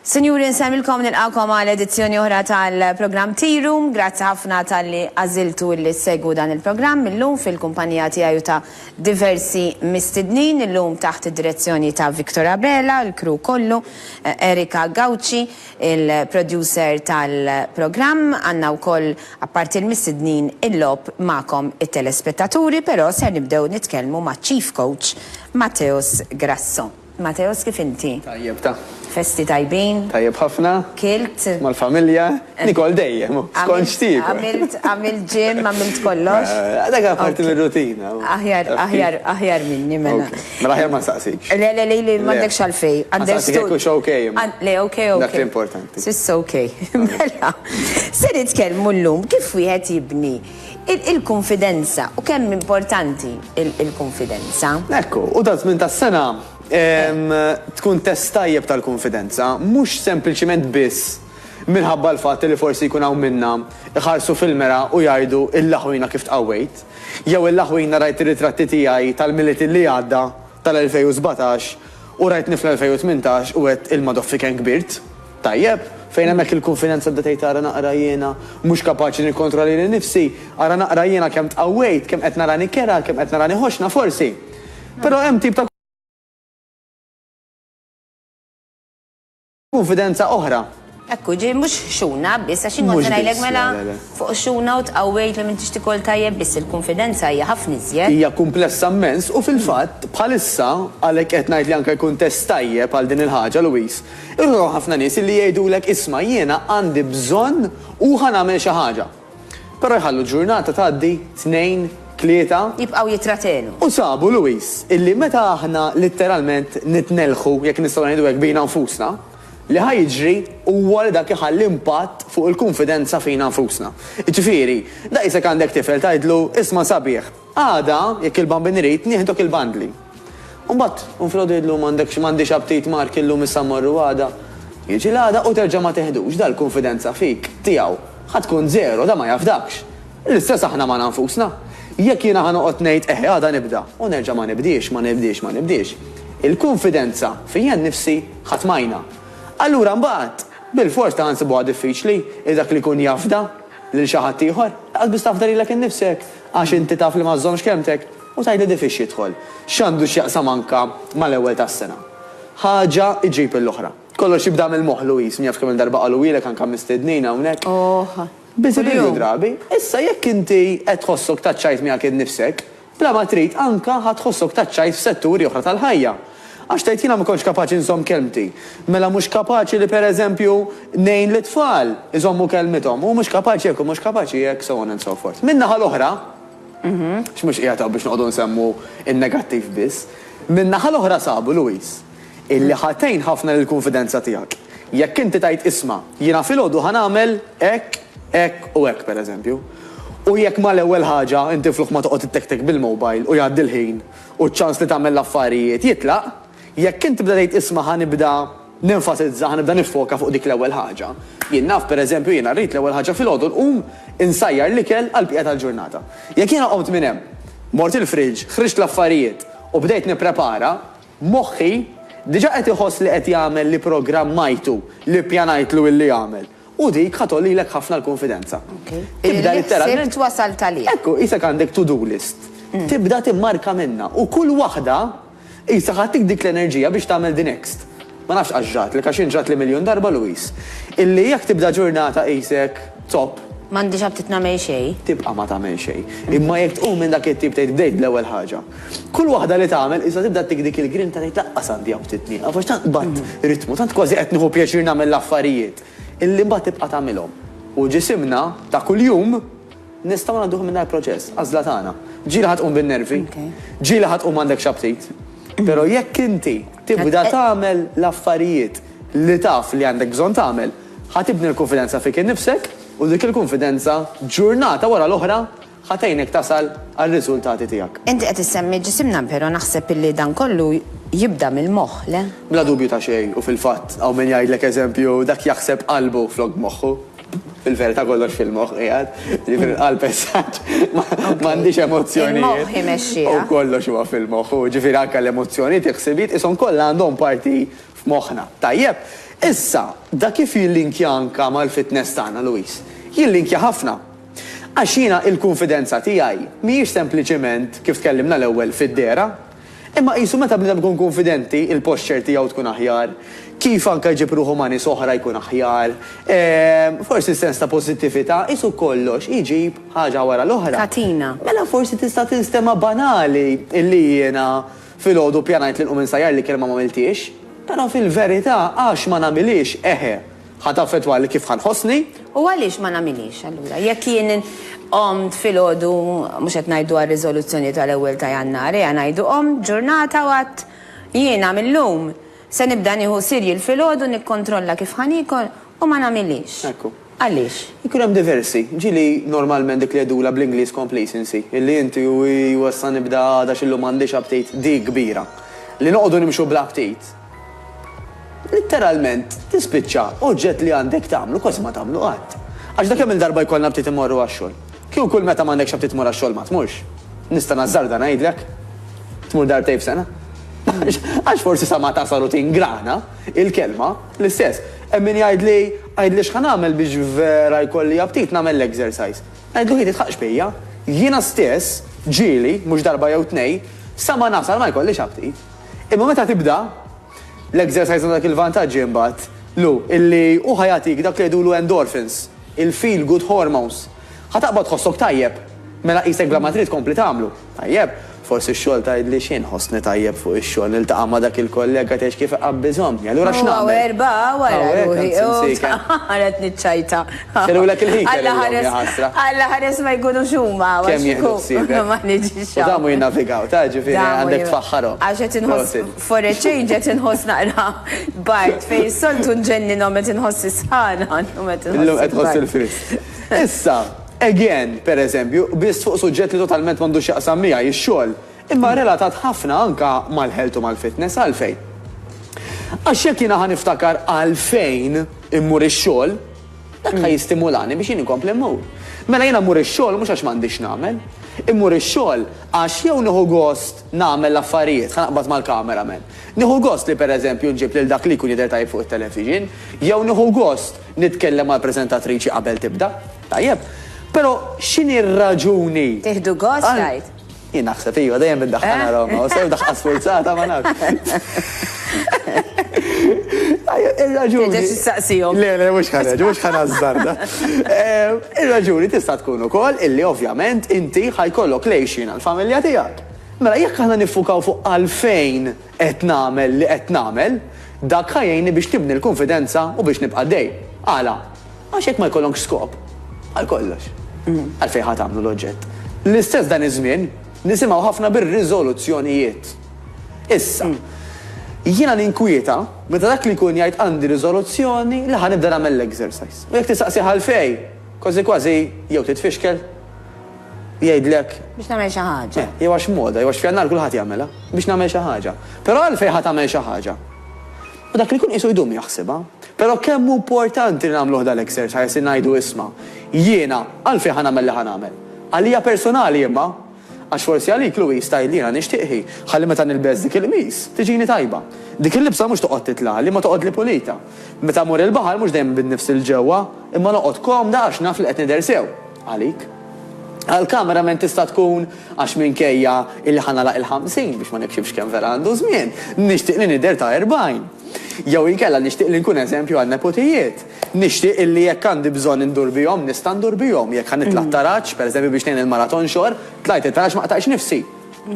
Sinjuri nsellmilkom nilqgħukom għal edizzjoni oħra tal-programm Tea Room. Grazzi ħafna talli għażiltu illi ssegwu dan il-programm illum fil-kumpanija tiegħi u ta' diversi mistednin, illum taħt id-direzzjoni ta' Victor Abela, l-crew kollu, Erica Gauci, il-producer tal-programm. Għandna wkoll apparti l-mistednin il-logħob magħkom it-telespettaturi, però ser nibdew nitkellmu maċ-Chief Coach Mateusz Grasso. Mateos kif inti? Tajjeb ta. Festi tajbin? Tajjeb ħafna. Kilt? Mal-familja. Nicole dejjem. Skont x'tiekol. Għamilt għamilt gym, għamilt kollox. Dak huwa parti mir-rutina. Aħjar aħjar aħjar minni mela. Mela aħjar ma nsaqsikx. Le le le le m'għandekx għalfejn. Understood. Nsaqsik hux ok imma. Le ok ok. Dak l-importanti. S'issa ok. Mela. Se nitkellmu llum kif wieħed jibni. Il-kunfidenza, u kemm importanti l-kunfidenza. Ekku, u taż-żmien tas-sena tkun test tajjeb tal-kunfidenza, mhux sempliċiment biss minħabba l-fatt li forsi jkun hawn minna jħarsu fil-mera u jgħidu illaħwina kif tqawwejt, jew illaħwina rajt ir-ritratti tiegħi tal-Milied li għadda, tal-2017, u rajtni fl-2018 u għedt il-Madoffi kemm kbirt. Tajjeb, fejn hemmhekk il-kunfidenza bdiet tgħid ara naqra jiena mhux kapaċi nikkontrolla lili nnifsi, ara naqra jiena kemm tqawwejt, kemm qed narani kerha, kemm qed narani ħoxna forsi. Però hemm tip ta' kunfidenza oħra. Hekk hu, ġifieri mhux xuna biss, għax jien kont se ngħidlek mela fuq xuna u tqawwejt li m'intix tikol tajjeb biss il-kunfidenza hija ħafna iżjed. Hija kumplessa mmens u fil-fatt bħalissa, għalhekk qed ngħid li anke jkun test tajjeb għal din il-ħaġa Louise, Irrid hawn ħafna nies illi jgħidulek isma' jiena għandi bżonn u ħa nagħmel xi ħaġa. Però jħallu ġurnata tgħaddi, tnejn, tlieta. Jibqgħu jittratenu. U sabu, Louis, illi meta aħna litteralment nitnellħu, jekk nistgħu ngħidu hekk, bina nfusna, li ħa jiġri huwa li dak iħalli impatt fuq il-kunfidenza fina nfusna. Jiġifieri, daqisek għandek tifel tgħidlu, isma' sabiħ, Għada, jekk il-Bambin irid, nieħdok il-bandli. U mbagħad, u filgħodu jgħidlu m'għandekx, m'għandix aptit Mark illum issa mmorru għada. Jiġi l-għada u terġa' ma tiħdux, dal-kunfidenza fik, tiegħu, ħa tkun żero, dan ma jafdakx. L-istess aħna magħna nfusna. Jekk jiena ħa noqgħod ngħid, eħe għada nibda, u nerġa' ma nibdiex, ma nibdiex, ma nibdiex, il-kunfidenza fija nnifsi ħa tmajna. Allura mbagħad, bilfors ta' ħa nsibuha diffiċli li dak li jkun jafda lil xi ħadd ieħor, lanqas biss tafda lilek innifsek. Għax inti taf li ma żżommx kelmtek u tgħidli di fiex jidħol. X'għandu x'jaqsam anka mal-ewwel tas-sena. Ħaġa iġġib il-oħra. Kollox jibda mill-moħħ Louise, min jaf kemm-il darba qalughielek anka mistednin hawnhekk. Ohh. Biżi' biżi' drabi. Issa jekk inti qed tħossok taċċajt miegħek innifsek, bla ma trid anka ħa tħossok taċċajt f'setturi oħra tal-ħajja. Għax tgħid jiena ma kontx kapaċi nżomm kelmti. Mela mhux kapaċi li per eżempju ngħin lit-tfal iżommu kelmithom. Hu mhux kapaċi hekk, hu mhux kapaċi hekk, so on and so forth. Min-naħa l-oħra, għax mhux qiegħed hawn biex noqogħdu nsemmu n-negattiv biss, min-naħa l-oħra sabu, Louise, illi ħa tgħin ħafna lill-kunfidenza tiegħek. Jekk inti tgħid isma', jiena filgħodu ħa nagħmel hekk, hekk u hekk per eżempju. U jekk mal-ewwel ħaġa inti flok ma toqgħod ittektek bil-mobile u jgħaddi l-ħin u ċ-ċans li tagħmel l-affarijiet jitlaq, jekk int tibda tgħid isma' ħa nibda nenfasizza, ħa nibda niffoka fuq dik l-ewwel ħaġa. Jien naf, per eżempju, jiena rrid l-ewwel ħaġa filgħodu nqum insajjar l-ikel għall-bqija tal-ġurnata. Jekk jiena qomt minn hemm, mort il-fridge, ħriġt l-affarijiet u bdejt nipprepara, moħħi diġà qed iħoss li qed jagħmel li programmajtu, li ppjanajtlu illi jagħmel. U dik ħa tgħollilek ħafna l-kunfidenza. Tibda litteralment. Li ħsibt wasalt għalih. Ekku, qisek għandek to-do list. Tibda timmarka minnha u kull waħda qisha ħadtik dik l-enerġija biex tagħmel the next. Ma nafx għax ġratlek, għax jien ġratli miljun darba Louise. Illi jekk tibda ġurnata qisek top. M'għandix aptit nagħmel xejn. Tibqa' ma tagħmel xejn. Imma jekk tqum minn dak it-tip tgħid bdejt bl-ewwel ħaġa. Kull waħda li tagħmel qisha tibda ttik dik il-grinta tgħid laqqas għandi hawn ftit nieqaf għax tant qbadt ritmu, tant kważi qed nieħu pjaċir nagħmel l-affarijiet illi mbagħad tibqa' tagħmilhom. U ġisimna ta' kuljum nistgħu ngħadduh minn dal-proċess, għażla tagħna. Ġieli ħa tqum bin-nervi, ġieli ħa tqum m'għandekx aptit, però jekk inti tibda tagħmel l-affarijiet li taf li għandek bżonn tagħmel, ħa tibni l-kunfidenza fik innifsek u dik il-kunfidenza ġurnata wara l-oħra, Ħa tgħinek tasal għar-riżultati tiegħek. Inti qed issemmi ġisimna pero naħseb illi dan kollu jibda mill-moħħ, le? Bla dubju ta' xejn u fil-fatt hawn min jgħidlek eżempju dak jaħseb qalbu flok moħħu. Fil-verità kollox fil-moħħ qiegħed, jiġifieri l-qalb as such m'għandhiex emozzjonijiet. Il-moħħ imexxiha. U kollox huwa fil-moħħ u jiġifieri anke l-emozzjonijiet, il-ħsibijiet qishom kollha għandhom parti f'moħħna. Tajjeb, issa, da kif jillinkja anke mal-fitness tagħna, Louise? Jillinkja ħafna. Għax jiena il-kunfidenza tiegħi mhijiex sempliċement, kif tkellimna l-ewwel, fid-dehra. Imma qisu meta bniedem ikun kunfidenti, il-posture tiegħu tkun aħjar, kif anke jġib ruħu ma' nies oħra jkun aħjar, forsi s-sens ta' pożittività, qisu kollox iġib ħaġa wara l-oħra. Katina. Mela forsi tista' tinstema' banali li jiena filgħodu ppjanajt li nqum insajjar li kelma m'għamilthiex. Però fil-verità għax ma nagħmilhiex, eħe. Ħa taffettwa li kif ħa nħossni. U għaliex ma nagħmilhiex allura? Jekk jien qomt filgħodu, mhux qed ngħidu għar-riżoluzzjoni tal-ewwel ta' Jannar, ejja ngħidu qomt ġurnata u għedt jiena mil-lum se nibda nieħu cereal filgħodu nikkontrolla kif ħa niekol u ma nagħmilhiex. Ekku. Għaliex? Ikun hemm diversi. Ġieli normalment dik li jgħidulha bl-Ingliż complacency, illi inti u issa nibda għada x'illum m'għandix aptit, dik kbira. Li noqogħdu nimxu bla aptit. Litteralment tispiċċa oġġett li għandek tagħmlu kważi ma tagħmlu qatt. Għax da kemm-il darba jkollna btit immorru għax-xogħol. Kieku kull meta m'għandekx aptit tmur għax-xogħol ma tmurx, nista' nażżarda ngħidlek, tmur darbtejn f'sena. Għax forsi sa ma tasal u tingrana, il-kelma, l-istess. Hemm min jgħidli, għidli x'ħa nagħmel biex vera jkolli aptit nagħmel l-exercise. Ngħidlu hi titħaqqx bija, jiena stess, ġieli, mhux darba jew tnejn, sa ma nasal ma jkollix aptit. Imma meta tibda l-exercise għandek il-vantaġġi imbagħad lu illi hu ħa jagħtik dak li jgħidulu endorphins, il-feel good hormones. Ħa taqbad tħossok tajjeb. Mela qisek bla ma trid tkompli tagħmlu. Tajjeb, forsi x-xogħol tgħidli xi nħossni tajjeb fuq ix-xogħol niltaqa' ma' dak il-kollega tgħix kif iqabbiżhom. Allura x'nagħmel? Hawn erba' wara ruħi u tqared niċċajta. Xelulek il-heater illum, ja ħasra. Alla ħares ma jkunux huma. Kemm jieħdu ħsiebek. Ma niġix hawn. U damu jinnavigaw, ta' ġifieri għandek tfaħħarhom. Għax qed inħoss, for a change qed inħoss naqra bard fejn soltu nġenninhom qed inħoss is-sħana, illum qed inħoss il-bard. Illum qed tħoss il-frisk. Issa, again, pereżempju, biss fuq suġġett li totalment m'għandux x'jaqsam miegħi, ix-xogħol. Imma relatat ħafna anke mal-health u mal-fitness. Għalfejn? Għax jekk jiena ħa niftakar għalfejn immur ix-xogħol, dak ħa jistimulani biex jien inkompli mmur. Mela jiena mmur ix-xogħol mhux għax m'għandix x'nagħmel. Immur ix-xogħol għax jew nieħu gost nagħmel l-affarijiet, ħa naqbad mal-camera man, nieħu gost li pereżempju nġib lil dak li jkun jidher tajjeb fuq it-television, jew nieħu gost nitkellem mal-preżentatriċi qabel tibda. Tajjeb. Però x'inhi r-raġuni għal. Tieħdu gost tgħid? Jien naħseb iva, dejjem iddaħħalna Roma, u sew daħqa sfurzata ma nafx. Ir-raġuni. Tista' tistaqsihom. Le, le, mhux ħareġ, mhux ħanażżarda. Ir-raġuni tista' tkun ukoll illi ovvjament inti ħajkollok lejxin għall-familja tiegħek. Mela jekk aħna niffukaw fuq għalfejn qed nagħmel li qed nagħmel, dak ħajjejni biex nibni l-kunfidenza u biex nibqa' dej. Għala? Għax jekk ma jkollonkx skop, għal kollox, għalfejn ħa tagħmlu l-oġġett? L-istess dan iż-żmien nisimgħu ħafna bir-riżoluzzjonijiet. Issa, jiena ninkwieta meta dak li jkun jgħid għandi riżoluzzjoni li ħa nibda nagħmel l-exercise. U jekk tistaqsih għalfejn, kważi kważi jew titfixkel, jgħidlek. Biex nagħmel xi ħaġa. Jew għax moda, jew għax f'Jannar kulħadd jagħmilha, biex nagħmel xi ħaġa. Però għalfejn ħa tagħmel xi ħaġa? U dak li jkun qisu jdum jaħsibha. Però kemm hu mportanti li nagħmluh dal-exercise, li ngħidu isma', jiena għalfejn ħa nagħmel li ħa nagħmel? Għalija personali imma! Għax forsi għalik Louise tgħid li jiena nixtieq hi ħalli meta nilbes dik il-qmis, tiġini tajba. Dik il-libsa mhux toqgħod titlagħli, imma toqgħodli pulita. Meta mmur il-baħar mhux dejjem nbid nifsi 'l ġewwa, imma noqgħod komda għax naf li qed nidher sew. Għalik. Għall-cameraman tista' tkun għax minkejja illi ħa nagħlaq il-ħamsin, biex ma nikxifx kemm vera għandu żmien, nixtieq li nidher ta' erbgħin. Jew inkella nixtieq li nkun eżempju għan-nepotijiet. Nixtieq illi jekk għandi bżonn indur bihom nista' ndur bihom. Jekk ħa nitla' t-taraġ, pereżempju biex ngħin il-mara tonxor, tlajt it-taraġ ma qtajtx nifsi.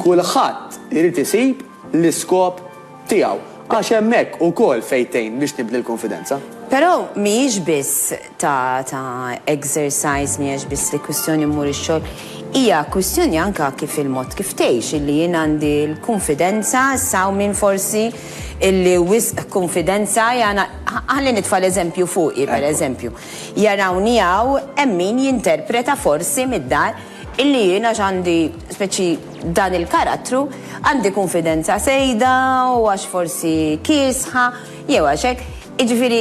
Kulħadd irid isib l-iskop Tiegħu, għax hemmhekk ukoll fejn tgħin biex tibni l-kunfidenza. Però mhijiex biss ta' ta' exercise, mhijiex biss li kwistjoni mmur ix-xogħol, hija kwistjoni anke kif il-mod kif tgħix, illi jien għandi l-kunfidenza, issa hawn min forsi illi wisq kunfidenza jagħna, ħalli nitfa' l-eżempju fuqi, pereżempju, jarawni hawn hemm min jinterpreta forsi mid-dar, Illi jien għax għandi speċi dan il-karattru, għandi kunfidenza sejda u għax forsi kiesħa, jew għax hekk, jiġifieri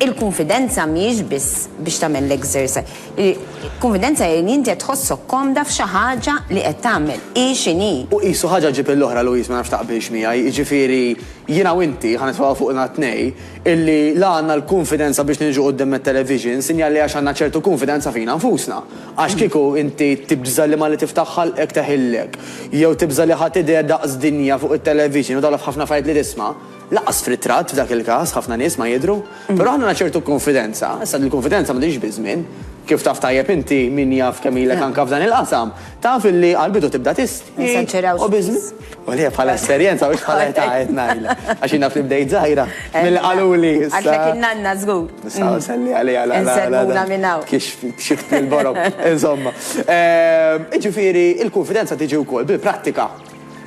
il-kunfidenza mhijiex biss biex tagħmel l-exercise. Il-kunfidenza hi li inti qed tħossok komda f'xi ħaġa li qed tagħmel, hi x'inhi. U qisu ħaġa ġġib lill-oħra, Louise, ma nafx taqbilx miegħi, jiġifieri jiena u inti, ħa nitfagħu fuqna t-tnej, illi la għandna l-kunfidenza biex niġu quddiem it-television, sinjal li għax għandna ċertu kunfidenza fina nfusna. Għax kieku inti tibża' li Malli tiftaħ ħalqek teħillek, jew tibża' li ħa tidher daqs dinja fuq it-television u daħla f'ħafna affarijiet li tisma', lanqas f'ritratt f'dak il-każ, ħafna nies ma jidhru, però aħna għandna ċertu konfidenza, issa din il-konfidenza ma tiġix biż-żmien, kif taf tajjeb inti, min jaf kemm ilek anke f'dan il-qasam, taf illi għall-bidu tibda tistħi u biż-żmien. U li bħala esperjenza u bħala età qed ngħidla. Għax jiena fl-ibdejt żgħira. Mill qaluli. Għax qed innanna żgur. Nista' mm. nselli għalija la Nselmuna minn hawn. Kiex xift fil-borok. Insomma. Ehm, Ġifieri, il-konfidenza tiġi wkoll bil-prattika.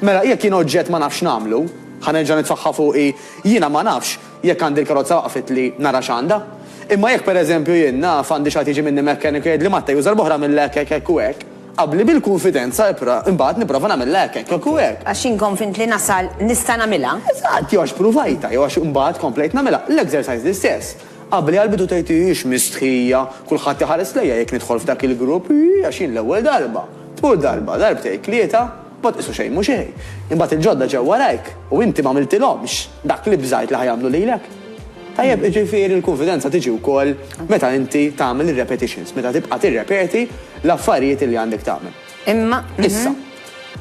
Mela jekk jien oġġett ma nafx nagħmlu, ħanerġa' nitfaħħa fuqi, jiena ma nafx jekk għandi l-karozza waqfet li nara x'għandha. Imma jekk pereżempju jien naf għandi xi tiġi minni mekkanik jgħid li matta juża l-boħra mill-hekk hekk u hekk. Qabli bil-kunfidenza, ipra, imbagħad nipprova nagħmilha hekk, hekk, hekk u hekk. Għax jien konvint li nasal nista' nagħmilha. Eżatt, jew għax pruvajtha, jew għax imbagħad komplejt nagħmilha. L-exercise l-istess. Qabli għall-bidu tgħid ix mistħija, kulħadd iħares lejja jekk nidħol f'dak il-grupp, ii għax jien l-ewwel darba. Tmur darba, darbtejn, tlieta. Ma tqisu xejn mhu xejn. Imbagħad il-ġodda ġew warajk u inti m'għamiltilhomx dak li bżajt li ħa jagħmlu lilek. Tajjeb, jiġifieri l-kunfidenza tiġi wkoll meta inti tagħmel ir-repetitions, meta tibqa' tirrepeti l-affarijiet li għandek tagħmel. Imma, issa,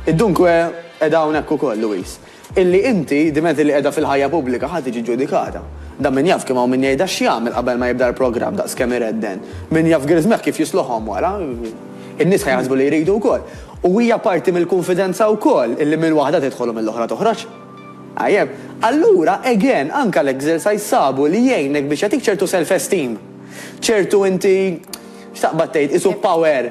id-dunkwe qiegħda hawnhekk ukoll, Louise. Illi inti, diment illi qiegħda fil-ħajja pubblika, ħa tiġi ġġudikata. Dan min jaf kemm hawn min jgħidha x'jagħmel qabel ma jibda l-programm daqs kemm iredden. Min jaf griżmeħ kif jisluħhom wara. In-nies ħa jaħsbu li jridu wkoll. U hija parti mill-kunfidenza wkoll illi minn waħda tidħol u mill-oħra toħroġ. Tajjeb. Allura, again, anke l-exercise sabu li jgħinek biex jagħtik ċertu self-esteem. Ċertu inti, x'taqbad tgħid, qisu power.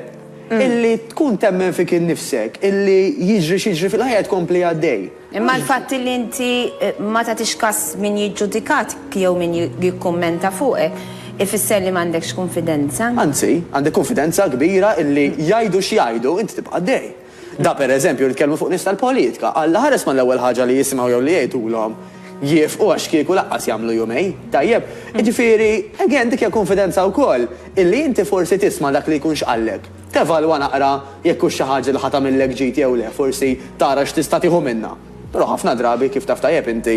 Illi tkun temmen fik innifsek, illi jiġri x'jiġri fil-ħajja tkompli għaddej. Imma l-fatt illi inti ma tagħtix kas min jiġġudikatik jew min jikkummenta fuqek, ifisser li m'għandekx kunfidenza? Anzi, għandek kunfidenza kbira illi jgħidu x'jgħidu, inti tibqa' għaddej. Da pereżempju nitkellmu fuq nies tal-politka, Alla ħares mal-ewwel ħaġa li jisimgħu jew li jgħidulhom. jiefqu għax kieku laqqas jagħmlu jumejn, tajjeb? Jiġifieri, again, dik hija kunfidenza wkoll, illi inti forsi tisma' dak li jkun x'qallek, tevalwa naqra jekk hux xi ħaġa li ħa tagħmillek ġid jew le, forsi tara x'tista' tieħu minnha. Però ħafna drabi, kif taf tajjeb inti,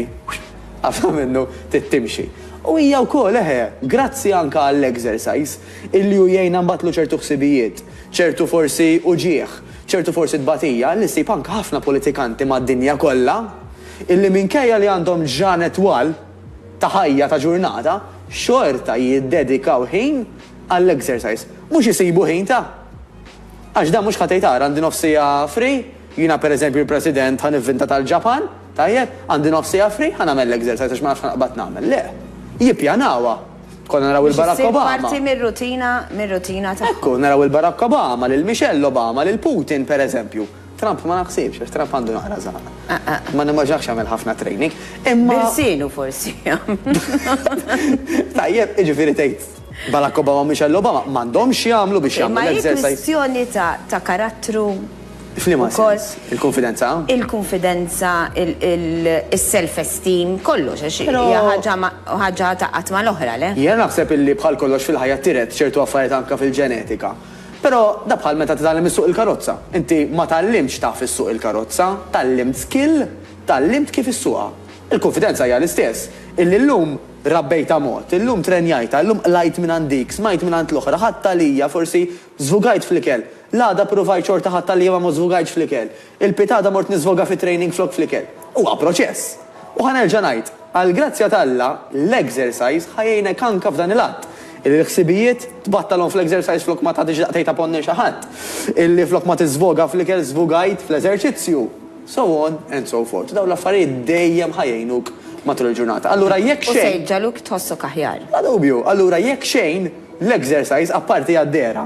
ħafna minnu trid timxi. U hija wkoll, eħe, grazzi anke għall-exercise, illi hu jgħinna nbattlu ċertu ħsibijiet, ċertu forsi uġigħ, ċertu forsi tbatija, li ssib anke ħafna politikanti mad-dinja kollha, illi minkejja li għandhom ġranet twal ta' ħajja ta' ġurnata, xorta jiddedikaw ħin għall-exercise. Mhux isibu ħin ta'. Għax dan mhux ħa tgħid ara għandi nofs siegħa free, jiena per eżempju l-President ħa nivvinta tal-Ġapan, tajjeb, għandi nofs siegħa free, ħa nagħmel l-exercise għax ma nafx x'ħanqbad nagħmel. Le. Jippjanawha. Konna naraw lil Barack Obama. Biex issir parti mir-rutina, mir-rutina tagħhom. Ekku, naraw lil Barack Obama, lil Michelle Obama, lil Putin per eżempju. Trump ma naħsibx, għax Trump għandu naqra żagħar. Ma nimmaġinahx jagħmel ħafna training. Imma. Birsienu forsi. Tajjeb, jiġifieri tgħid Barack Obama u Michelle Obama m'għandhomx jagħmlu biex jagħmlu l-exercise. Ma hi kwistjoni ta' karattru. F'liema sens? Il-kunfidenza? Il-kunfidenza, il-self-esteem, kollox, għax hija ħaġa ta' qatt mal-oħra, le? Jiena naħseb illi bħal kollox fil-ħajja tiret ċertu affarijiet anke fil-ġenetika. Però da bħal meta titgħallem issuq il-karozza. Inti ma tgħallimtx taf issuq il-karozza, tgħallimt skill, tgħallimt kif issuqha. Il-kunfidenza hija l-istess. Illi llum rabbejtha mod, illum trenjajtha, illum qlajt mingħand dik, smajt mingħand l-oħra, ħadt għalija, forsi żvugajt fl-ikel. L-għada ppruvajt xorta ħadt għalija ma ma żvugajtx fl-ikel. Il-pietà għadha mort niżvoga fi training flok fl-ikel. Huwa proċess. U ħa nerġa' ngħid, għall-grazzja t'Alla, l-exercise ħa jgħinek anke f'dan il-għadd. Illi l-ħsibijiet, tbattalhom fl-exercise flok ma tagħtix daqqa tgħid apponnen xi ħadd. Illi flok ma tiżvoga fl-ikel żvugajt fl-eżerċizzju. So on and so forth. Dawn l-affarijiet dejjem ħa jgħinuk matul il-ġurnata. Allura jekk xejn. U se jġagħluk tħossok aħjar. Bla dubju. Allura jekk xejn, l-exercise, apparti għad-dehra.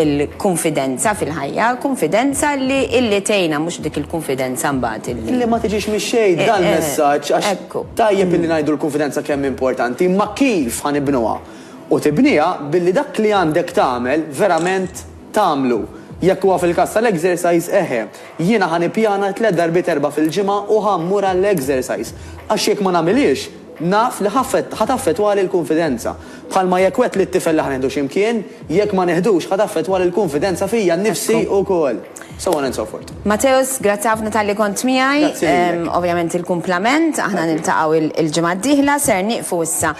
Il-kunfidenza fil-ħajja, kunfidenza li illi tgħinha mhux dik il-kunfidenza mbagħad illi. Illi ma tiġix mix-xejn, f'dan il-messaġġ għax. Ekku. Tajjeb illi ngħidu l-kunfidenza kemm hi importanti, imma kif ħa nibnuha? U tibniha billi dak li għandek tagħmel verament tagħmlu. Jekk huwa fil-każ tal-exercise, eħe, jiena ħa nippjana tliet darbiet erbgħa fil-ġimgħa u ħa mmur għall-exercise. Għax jekk ma nagħmilhiex, Naf li ħa taffettwali l-kunfidenza. Bħalma jekk wgħedt lit-tifel li ħa nieħdu xi mkien, jekk ma niħdux ħa taffettwali l-kunfidenza fija nnifsi wkoll. So on and so forth. Mateusz, grazzi ħafna talli kont miegħi. Ovvjament il-kumplament, aħna niltaqgħu l-ġimgħa d-dieħla, ser nieqfu issa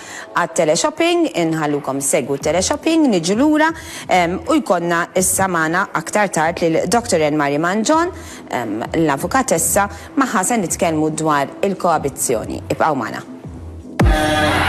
għat-teleshopping, inħallukom issegwu t-teleshopping, niġu lura u jkollna issa magħna aktar tard lil Doctor Anne-Marie Mangion, l-Avukatessa, Magħha se nitkellmu dwar il-koabizzjoni. Ibqgħu magħna.